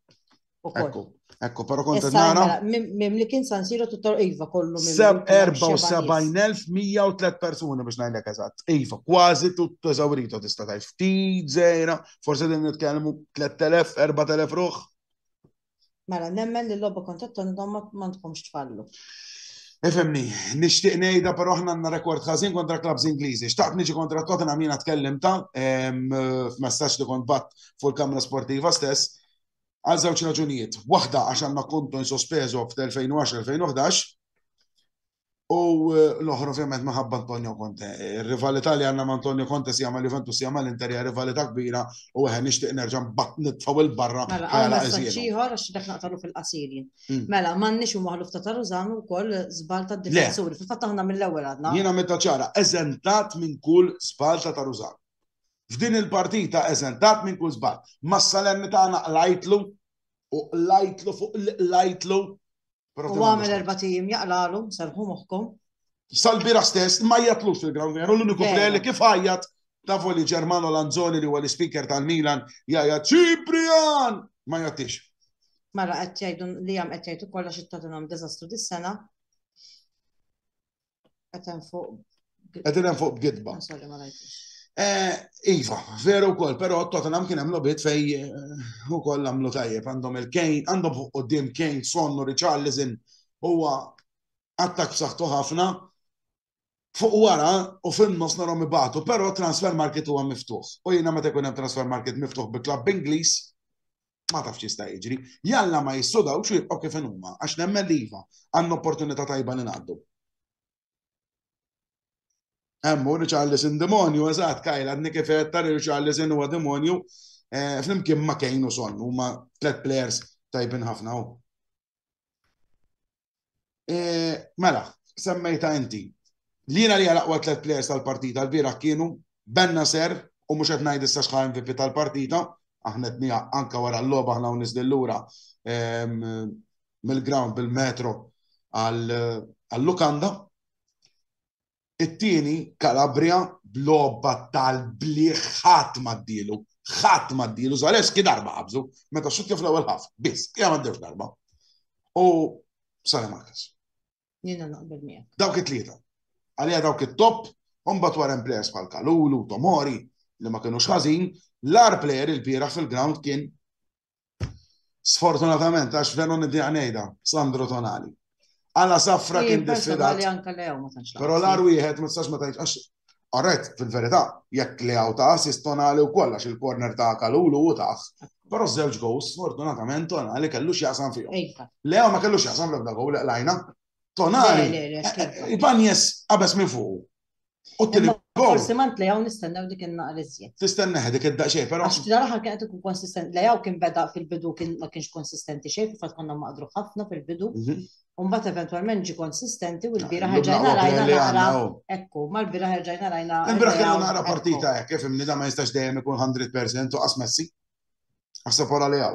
Speaker 1: Ekku, ekku, pero kont nara. Mela, mim li kien San Siro tuttor Iva kollu minn. 74,103 persuni biex ngħidlek eżatt. Iva, kważi tutto eżawrito tista' tgħid. Ftit żejra, forse din nitkellmu 3,000, 4,000 ruħ. Mela, nemmen li l-logħba kontra t-Tornidon ma tkomx tfallu. Ifemni, nixtieq ngħidha però aħna għandna rekord ħażin kontra klabs Ingliżi. Xtaqt niġi kontra Tottenham jiena tkellimta f'messaġġ li kont bat fuq il-Kamra Sportiva stess għal żewġ raġunijiet. Waħda għax għandna kontu insospeżu f'tel 2010 2011 U l-oħra ovvjament minħabba Antonio Conte. Ir-rivalità li għandna ma' Antonio Conte si jagħmel Juventus si jagħmel Inter hija rivalità kbira u eħe nixtieq nerġa' nbagħad nitfgħu 'l barra Mela, għal messaġġ ieħor għax dak naqtalu fil-qasir jien. Hmm. Mela, m'għandniex u maħluf ta' Tarużan ukoll żball tad-difensuri. Fil-fatt aħna mill-ewwel għadna. Jiena meta ċara, eżentat minn kull żball ta' Tarużan. F'din il-partita eżentat minn kull żball. Mas-salemmi tagħna qlajtlu u qlajtlu fuq qlajtlu U għamel erba' tim jaqlalu, serħu moħħkom. Sal-bira stess ma jatlux fil-ground u l-uniku player li kif ħajjat tafu li Ġermano Lanzoni li huwa l-speaker tal-Milan jgħajja Ċiprian ma jattix. Mela qed jgħidu li hemm qed jgħidu kollha xi tagħtinhom diżastru dis-sena. Għetem fuq. Għetem fuq b'gidba. Eh, iva, veru kol, pero Tottenham kien hemm lobit fej eh, u koll għamlu tajjeb għandhom il-Kane, għandhom fuq qudiem Kane, Sonnu, Richarlison, huwa attak saħtu ħafna. Fuq wara u fin-nofs narhom ibatu, pero transfer market huwa miftuħ. U jiena meta jkun hemm transfer market miftuħ bi klabb Ingliż, ma tafx jista' jiġri. Jalla ma jissodaw xi jibqgħu kif huma, għax nemmen li iva, għandna opportunità tajba li ngħaddu. Hemmu li Charles in demonju, eżatt, kajla għadni kif qed li Charles in huwa demonju, eh, flimkien ma kejn u son, huma tliet players tajbin ħafna u. Eh, mela, semmejta inti. Lina li għalaqwa tlet players tal-partita l-bira kienu Benna Ser u mux għet najd issa xħar MVP tal-partita, aħna t-nija anka wara l-loba aħna unis dillura ehm, mill-ground bil-metro għal-lukanda. It-tieni, Calabria, b'logħba tal-bliħ ħadd m'għaddielu, ħadd m'għaddielu, Zaleski darba qabżu, meta xutja fl-ewwel ħaf, biss, hija m'għaddewx darba. U Sara Marcus. Jiena naqbel miegħek. Dawk it-tlieta. Għalija dawk it-top, mbagħad wara players bħal Kalulu, Tomori, li ma kienux ħażin, l-ar player il-bieraħ fil-ground kien Sfortunatament, għax veru nidi għanejda, Sandro Tonali. Għala safra kien diffidat. Pero l-ar wieħed, ma tistax ma tajċ, għax għarret fil-verita, jekk li għaw ta' assist Tonali u koll, għax il-korner ta' kalulu u taħ. Pero zewġ gows, sfortunatament, Tonali kellu xjaqsam fiju. Le ma kellu xjaqsam l-ebda gow, lajna. Tonali, ibanjes għabes minn fuq. Forsi ma ntlejaw nistennew dik il-naqra iżjed. Tistenneħ dik id-daqxej, però. Għax tira raħal kienet ikun konsistenti. Lejaw kien beda fil-bidu kien ma kienx konsistenti xejn, fil-fatt konna maqdru ħafna fil-bidu. Mhm. Umbat eventualment ġi konsistenti u l-bira ħarġajna rajna naqra. Ekku, ma l-bira ħarġajna rajna. Il-bira kien naqra partita hekk, kif imni ma jistax dejjem ikun 100% u qas messi. Għasab wara lejaw.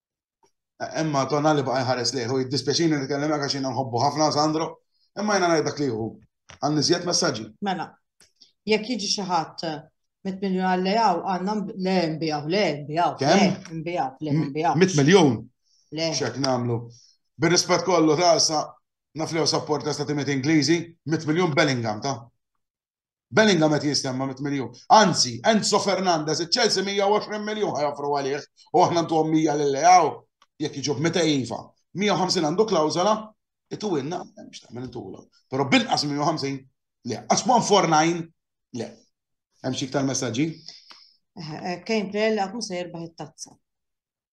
Speaker 1: Imma Tonali baqa' jħares lejh u jiddispjaċini nitkellimek għax jiena nħobbu ħafna Sandro, imma jiena ngħid dak li jieħu. Għal niżjed messaġġi. Mela, jekk jiġi xi ħadd mit miljun għal lejaw għandna le nbijaw, le nbijaw. Kemm? Nbijaw, le nbijaw. Mit miljun? Le. Xek nagħmlu. Bir-rispett kollu ta' sa naf li sapporta stati met Ingliżi, mit miljun Bellingham ta' Bellingham qed jistenma mit miljun. Anzi, Enzo Fernandez, iċ-Chelsea 120 miljun ħajofru għalih u aħna ntuhom 100 lil Leao jekk jiġu b'meta iva. 150 għandu klawżola, itu inna, mhux tagħmel intulhom. Però binqas 150 le, qas 149 le. Hemm xi iktar messaġġi? Eh, Kejn Prella mhux se jirbaħ it-tazza.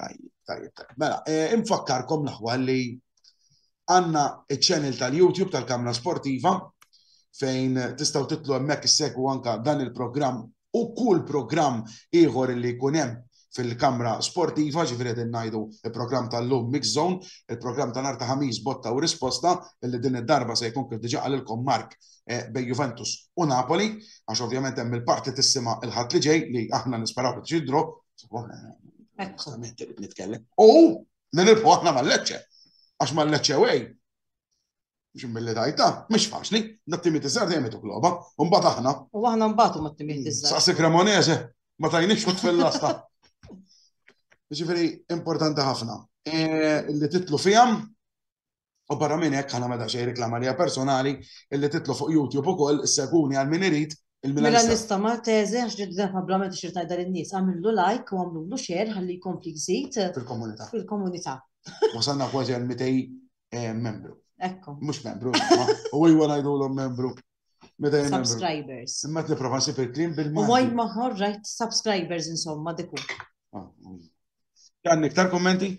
Speaker 1: Tajjeb, tajjeb, tajjeb. Mela, eh, infakkarkom l-aħwa li għanna il-channel tal-YouTube tal-Kamra Sportiva fejn tistaw titlu hemmhekk issegwu anka dan il-programm u kull programm ieħor li jkun hemm fil-kamra sportiva, ġifiri din najdu il-program tal-lum Mix Zone, il-program tal-arta ħamis botta u risposta, illi din id-darba se jkun kif diġa għalilkom Mark bejn Juventus u Napoli, għax ovvjament hemm il-parti tissima il-ħadd li ġej li aħna nisperaw li tiġi draw. Esattament irid nitkellem. U nilirħu aħna mal-leċċe. Għax mal-leċċe wej. Xim mill-li dajta, mhux faċli, dat-timiet iżgħar dejjem ituk logħba, u mbagħad aħna. U aħna mbagħad ma t-timiet iżgħar. Saqsi Cremonese, ma tajniex kut fil-lasta. Ġifieri importanti ħafna. E, li titlu fihom U barra minn hekk aħna ma da xejn reklama li personali illi titlu fuq YouTube ukoll seguni għal min irid Mela nista' ma teżi għax li dlef ablament ixir tajda lin-nies għamillu like u għamlulu share ħalli jkompli jżid fil-komunità. Fil-komunità. Wasalna kważi għal 200 eh, membru. Ekku. Mhux membru, u ejwa ngħidulhom membru. Subscribers. Imma qed nipprova nsib il-klim bil-mod. U wajt maħor rajt subscribers insomma diku. Għandek ah, mm. iktar kommenti?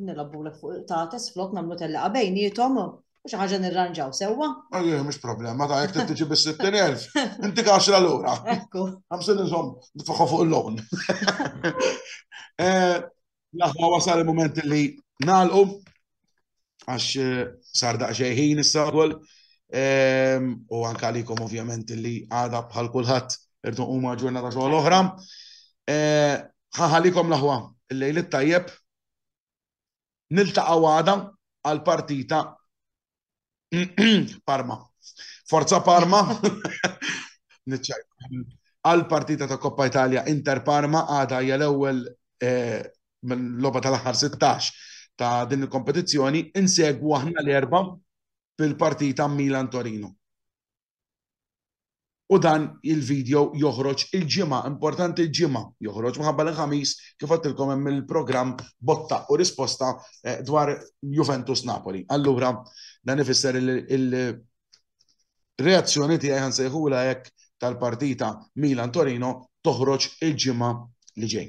Speaker 1: Nilabbu l fuq tates flok namlu telliqa bejnietom u xi ħaġa nirranġaw sewwa. Ejja, mhux problema, ta' jekk tiġi bis-60,000, inti kaxra lura. Ekku. Għamsin nżomm nitfaħħu fuq il-loan. Eh, Laħwa wasal il-moment li nalqu għax eh, sar daqsxejn ħin issa wkoll ehm, u anke għalikom ovvjament li għada bħal kulħadd irdu huma ġurnata xogħol oħra. Eh, Ħa ħalikom l-aħwa, il-lejl it-tajjeb. Niltaqgħu għada għal partita Parma. Forza Parma. Niċċajt. Għal partita ta' Coppa Italia Inter Parma għada hija l-ewwel eh, minn logħba tal-aħħar 16 ta' din il-kompetizzjoni insegwu aħna l-erba' fil-partita Milan Torino. U dan il-video joħroġ il-Ġimgħa, importanti l-Ġimgħa joħroġ minħabba li l-Ħamis kif għedtilkom hemm il-programm botta u risposta dwar Juventus Napoli. Allura dan ifisser li l-reazzjoni tiegħi ħa nsejħulha hekk tal-partita Milan Torino toħroġ il-Ġimgħa li ġej.